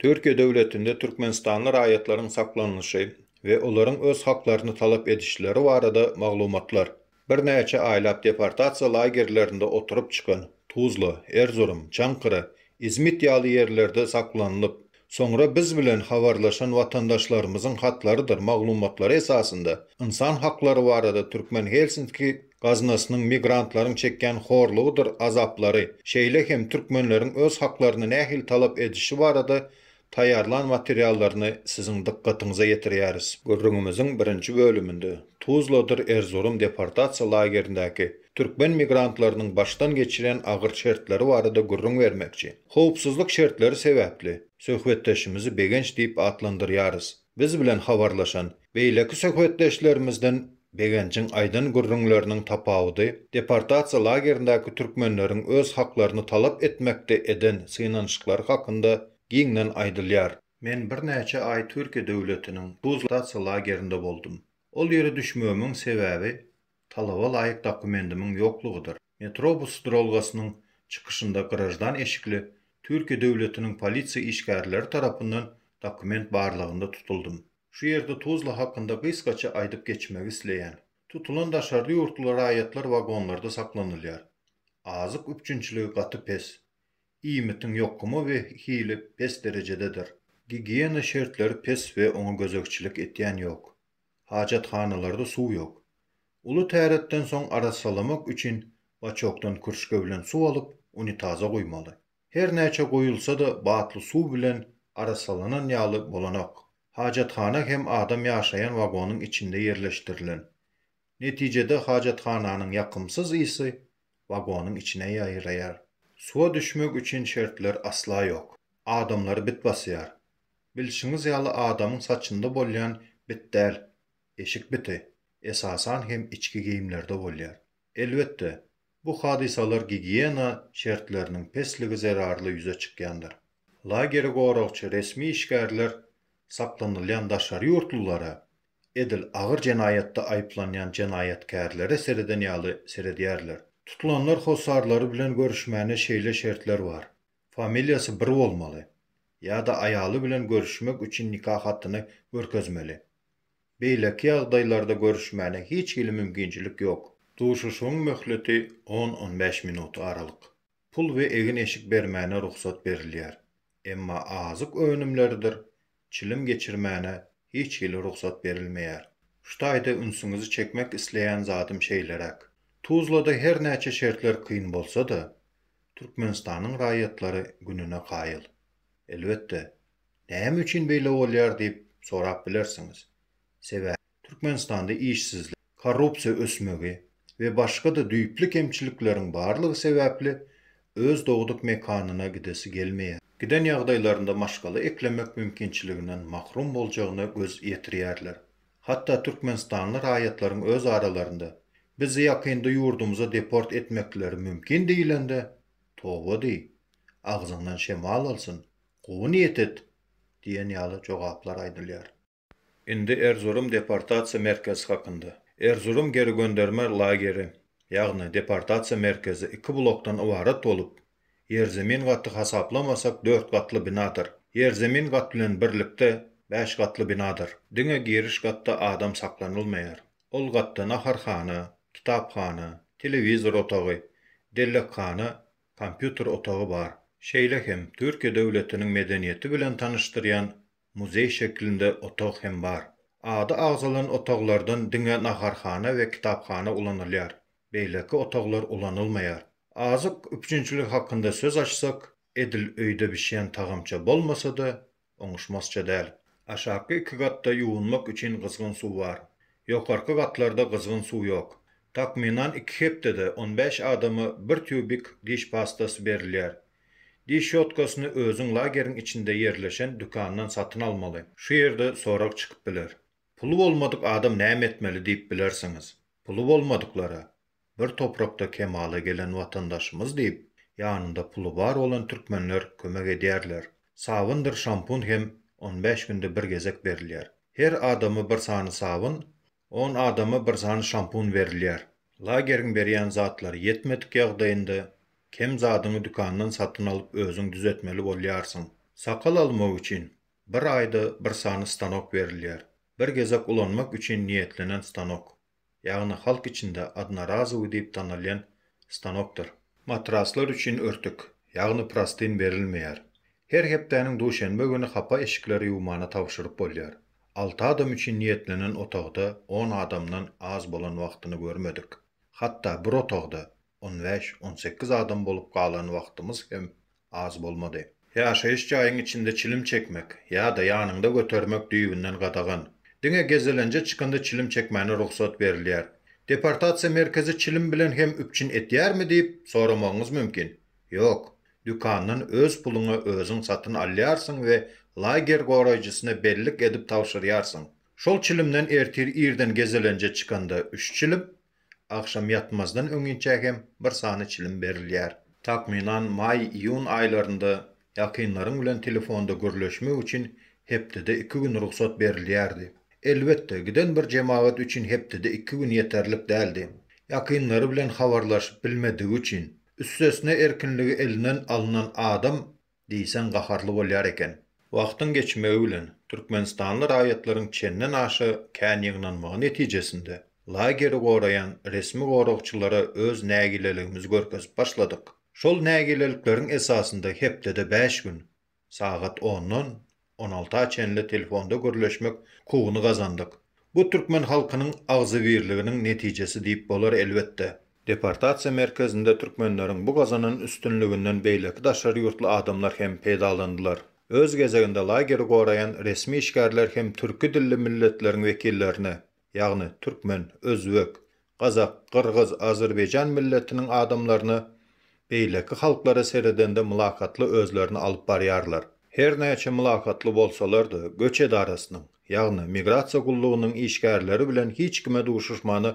Türkiýe döwletinde türkmenistanly raýatlaryň saklanylyşy we olaryň öz haklaryny talap edişleri barada maglumatlar. Birnäçe aýlap deportasiýa lagerlerinde oturyp çykan, Tuzla, Erzurum, Çankara, Izmit ýaly ýerlerde saklanylyp, Soňra biz bilen habarlaşan watandaşlarymyzyň hatlarydyr maglumatlary esasynda ynsan haklary barada Türkmen Helsinki gaznasynyň migrantlaryň çekýän horlugydyr azaplary, şeýle hem türkmenleriň öz haklaryny nähili talap edişi barada taýýarlan materiallaryny siziň dykgatyňyza ýetirýäris. Gürrüňimiziň birinji bölüminde Tuzladyr Erzurum deportasiýa lagerindäki türkmen migrantlarynyň başdan geçirýän agyr şertleri barada gürrüň bermekçi. Howpsuzlyk şertleri sebäpli, söhbetdeşimizi Begenç diýip atlandyrýarys. Biz bilen habarlaşan beýleki söhbetdeşlerimizden Begenjiň aýdan gürrüňleriniň tapawudy deportasiýa lagerindäki türkmenleriň öz haklaryny talap etmekde eden synanyşyklary hakynda giňden aýdylýar. Men birnäçe aý Türkiýe döwletiniň Tuzla deportasiýa lagerinde boldum. Ol ýere düşmegimiň sebäbi talaba laýyk dokumendimiň ýoklugydyr. Metrobus duralgasynyň çykyşynda graždan eşikli Türkiýe döwletiniň polisiýa işgärleri tarapyndan dokument barlagynda tutuldym. Şu ýerde Tuzla hakynda gysgaça aýdyp geçmegi isleýän. Tutulan daşary ýurtly raýatlar wagonlarda saklanylýar. Azyk üpjünçiligi gaty pes. Iýmitiň ýokumy we hili pes derejededir. Gigiýena şertleri pes we oňa gözegçilik etýän ýok. Hajathanalarda suw ýok. Uly täretden soň arassalamak üçin baçokdan kürşge bilen suw alyp unitaza guýmaly. Her näçe guýulsa-da batly suw bilen arassalanan ýaly bolanok. Hajathana hem adam ýaşaýan wagonyň içinde ýerleşdirilen. Netijede hajathananyň ýakymsyz ysy wagonyň içine ýaýraýar. Suwa düşmek üçin şertler asla ýok. Adamlary bit basýar. Bilşiňiz ýaly adamyň saçynda bolýan bit däl, eşik biti, esasan hem içki geýimlerde bolýar. Elbetde, bu hadysalar gigiýena şertleriniň pesligi zerarly ýüze çykýandyr. Lageri goragçy resmi işgärler saklanylýan daşary ýurtlulara, edil agyr jenaýatda aýyplanýan jenaýatkärlere sereden ýaly seredýärler. Tutulanlar hossarlary bilen görüşmäne şeýle şertler bar, Familiýasy bir bolmaly, ýa-da aýaly bilen görüşmek üçin nika hatyny görkezmeli. Beýleki ýagdaýlarda görüşmäne hiç hili mümkinçilik ýok. Duşuşygyň möhleti on-on bäş minut aralyk. Pul we egin-eşik bermäne rugsat berilýär, emma azyk önümleridir çilim geçirmäne hiç hili rugsat berilmeýär. Şu taýda ünsüňizi çekmek isleýän zadym şeýleräk. Tuzlada her näçe şertler kyn bolsa-da, Türkmenistanyň raýatlary gününe kaýyl. Elbetde, näme üçin beýle bolýar diýip sorap bilersiňiz. Sebäbi, Türkmenistanda işsizlik, korrupsiýa ösmegi we başga-da düýpli kemçilikleriň barlygy sebäpli öz dogduk mekanyna gidesi gelmeýär. Giden ýagdaýlarynda maşgala eklemek mümkinçiliginden mahrum boljagyna göz ýetirýärler. Hatda türkmenistanly raýatlaryň öz aralarynda, Bizi ýakynda ýurdumyza deport etmekleri mümkin diýlende, Toba diý, agzyňdan şemal alsyn, gowy niýet et! diýen ýaly jogaplar aýdylýar. Indi Erzurum deportasiýa merkezi hakynda. Erzurum geri gönderme lageri, ýagny deportasiýa merkezi iki blokdan ybarat bolup, ýerzemin gaty hasaplamasak dört gatly binadyr. Ýerzemin gat bilen birlikde bäş gatly binadyr. Diňe giriş gatda adam saklanylmaýar. Ol gatda naharhana, kitaphana, telewizor otagy, dellekhana, kompýuter otagy bar. Şeýle hem Türkiýe döwletiniň medeniýeti bilen tanyşdyrýan Muzeý şeklinde otag hem bar. Ady agzalan otaglardan diňe naharhana we kitaphana ulanylýar. Beýleki otaglar ulanylmaýar. Azyk üpjünçiligi hakynda söz açsak, edil öýde bişýän tagamça bolmasa-da, oňuşmazça däl. Aşaky iki gatda ýuwunmak üçin gyzgyn suw bar. Ýokarky gatlarda gyzgyn suw ýok. Takmynan iki hepdede on bäş adama bir týubik diş pastasy berilýär. Diş şotkasyny özüň lageriň içinde ýerleşen dükandan satyn almaly. Şu ýerde sorag çykyp biler. Puly bolmadyk adam näme etmeli diýip bilersiňiz. Puly bolmadyklara, Bir toprakda kemala gelen watandaşymyz diýip, ýanynda puly bar bolan türkmenler kömek edýärler. Sabyndyr şampun hem on bäş günde bir gezek berilýär. Her adama bir sany sabyn, On adama bir sany şampun berilýär. Lageriň berýän zatlary ýetmedik ýagdaýynda, kem zadyňy dükandan satyn alyp özüň düzetmeli bolýarsyň. Sakal almak üçin, bir aýda bir sany stanok berilýär. Bir gezek ulanmak üçin niýetlenen stanok. Ýagny halk içinde odnorazowyý diýip tanalýan stanokdyr. Matraslar üçin örtük, ýagny prostyn berilmeýär. Her hepdäniň duşenbe güni hapa eşikleri ýuwmana tabşyryp bolýar. Alty adam üçin niýetlenen otagda on adamdan az bolan wagtyny görmedik. Hatda bir otagda on bäş, on sekiz adam bolup galan wagtymyz hem az bolmady. Ýaşaýyş jaýyň içinde çilim çekmek ýa-da ýanyňda götermek düýbünden gadagan. Diňe gezelenje çykanda çilim çekmäne rugsat berilýär. Deportasiýa merkezi çilim bilen hem üpjün edýärmi diýip, soramagyňyz mümkin. Ýok. Dükandan öz puluňa özüň satyn alýarsyň we lager goraýjysyna bellik edip tabşyrýarsyň. Şol çilimden ertir irden gezelenje çykanda üç çilim, agşam ýatmazdan öňinçä hem bir sany çilim berilýär. Takmynan maý-iýun aýlarynda ýakynlaryň bilen telefonda gürleşmek üçin hepdede iki gün rugsat berilýärdi. Elbetde, giden bir jemagat üçin hepdede iki gün ýeterlik däldi. Ýakynlary bilen habarlaşyp bilmedigi üçin, Üstesine erkinligi elinden alynan adam diýseň gaharly bolýar eken. Wagtyň geçmegi bilen, türkmenistanly raýatlaryň çenden aşa kän ýygnanmagy netijesinde, lageri goraýan resmi goragçylara öz nägileligimizi görkezip başladyk. Şol nägilelikleriň esasynda hepdede bäş gün, Sagat ondan on alta çenli telefonda gürleşmek kugyny gazandyk. Bu türkmen halkynyň agzybirliginiň netijesi diýip bolar elbetde. Deportasiýa merkezinde türkmenleriň bu gazanan üstünliginden beýleki daşary ýurtly adamlar hem peýdalandylar. Öz gezeginde lageri goraýan resmi işgärler hem türki dilli milletleriň wekillerini, ýagny türkmen, özbek, gazak, gyrgyz, azerbaýjan milletiniň adamlaryna beýleki halklara seredende mylakatly özlerini alyp barýarlar. Her näçe mylakatly bolsalar-da, göç edarasynyň, ýagny migrasiýa gullugynyň işgärleri bilen hiç kime duşuşmana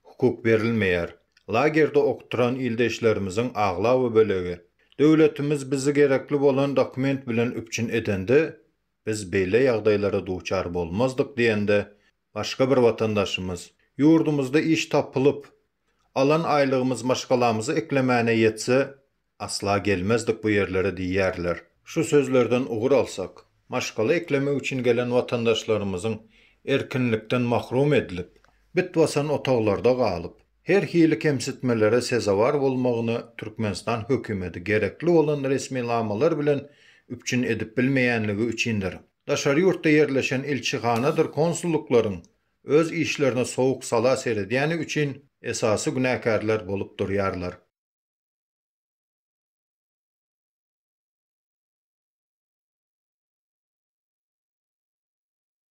hukuk berilmeýär. Lagerde okturan ildeşlerimiziň aglaba bölegi, Döwletimiz bizi gerekli bolan dokument bilen üpjün edende, Biz beýle ýagdaýlara duçar bolmazdyk diýende, başga bir watandaşymyz, Ýurdumyzda iş tapylyp, alan aýlygymyz maşgalamyzy eklemäne ýetse, asla gelmezdik bu ýerlere diýýärler. Şu sözlerden ugur alsak, maşgala eklemek üçin gelen watandaşlarymyzyň erkinlikden mahrum edilip, bit basan otaglarda galyp, Her hili kemsitmelere sezewar bolmagyna Türkmenistan hökümeti gerekli bolan resminamalar bilen üpjün edip bilmeýänligi üçindir. Daşary ýurtda ýerleşen ilçihanadyr konsullyklaryň öz işlerine sowuk sala seredýäni üçin esasy günäkärler bolup durýarlar.